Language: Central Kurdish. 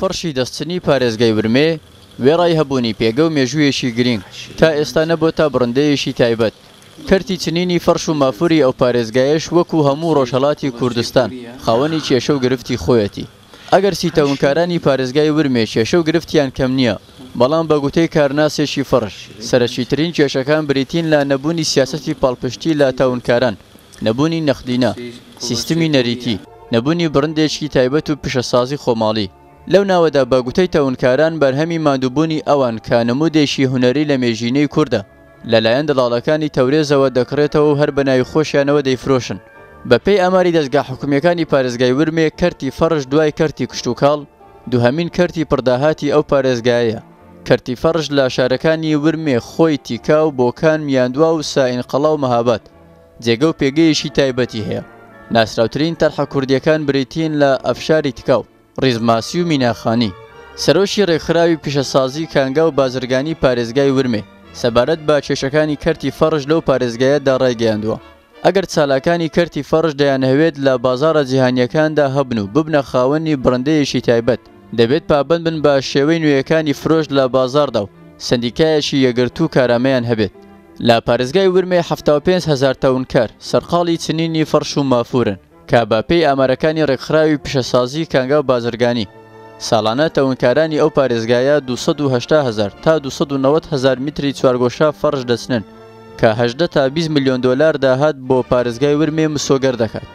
فڕشی دەستچنی پارێزگای ورمێ وێڕای هەبوونی پێگە و مێژوویەکی گرینگ، تا ئێستا نەبۆتە بڕندەیەکی تایبەت. کەرتی چنینی فەڕش و مافوری ئەو پارێزگایەش وەکو هەموو ڕۆژهەڵاتی کوردستان خاوەنی کێشە و گرفتی خۆیەتی. ئەگەر سیتەونکارانی پارێزگای ورمێ کێشە و گرفتیان کەم نییە، بەڵام بە گوتەی کارناسێکی فڕش، سەرەکیترین کێشەکان بریتین لە نەبوونی سیاسەتی پاڵپشتی لە تاونکاران نەبوونی نەقدینە، سیستمی نەریتی، نەبوونی بڕندێکی تایبەت و پیشەسازی خۆماڵی، لەو ناوەدا بە گوتەی تەونکاران بەرهەمی ماندووبوونی ئەوان کە نموودێکی هونەری لە مێژینەی کوردە، لەلایەن دەڵاڵەکانی تەورێزەوە دەکڕێتەوە و هەر بە ناوی خۆشیانەوە دەیفرۆشن. بە پێی ئاماری دەزگا حکومییەکانی پارێزگای ورمێ کەرتی فەڕش دوای کەرتی کشتوکاڵ دووهەمین کەرتی پڕداهاتی ئەو پارێزگایەیە. کەرتی فەڕش لە شارەکانی ورمێ، خۆی، تیکا و بۆکان، میاندوا و سائینقەڵا و مەهاباد، جێگە و پێگەیەکی تایبەتی هەیە. ناسراوترین تەرحە کوردییەکان بریتین لە ئەفشاری تکاو، ڕیزماسی و میناخانی. سەرۆکی ڕێکخراوی پیشەسازی کانگا و بازرگانی پارێزگای ورمێ سەبارەت بە کێشەکانی کەرتی فەڕش لەو پارێزگایەدا ڕایگەیاندووە، ئەگەر چالاکانی کەرتی فەڕش دەیانهەوێت لە بازاڕە جیهانییەکاندا هەبن و ببنە خاوەنی بڕندەیەکی تایبەت، دەبێت پابەند بن بە شێوەی نوێیەکانی فرۆش لە بازاڕدا و سەندیکایەکی یەکگرتوو کارامەیان هەبێت. لە پارێزگای ورمێ حەفتا و پێنج هەزار تەونکەر سەرقاڵی چنینی فەڕش و مافوورن، کە بە پێی ئامارەکانی رێکخراوی پیشەسازی کانگا و بازرگانی، ساڵانە تەونکارانی ئەو پارێزگایە دوو سەد و هەشتا هەزار تا دوو سەد و نەوەد هەزار میتری چوارگۆشە فەڕش دەچنن، کە هەژدە تا بیست ملیۆن دۆلار داهات بۆ پارێزگای ورمێ مسۆگەر دەکات.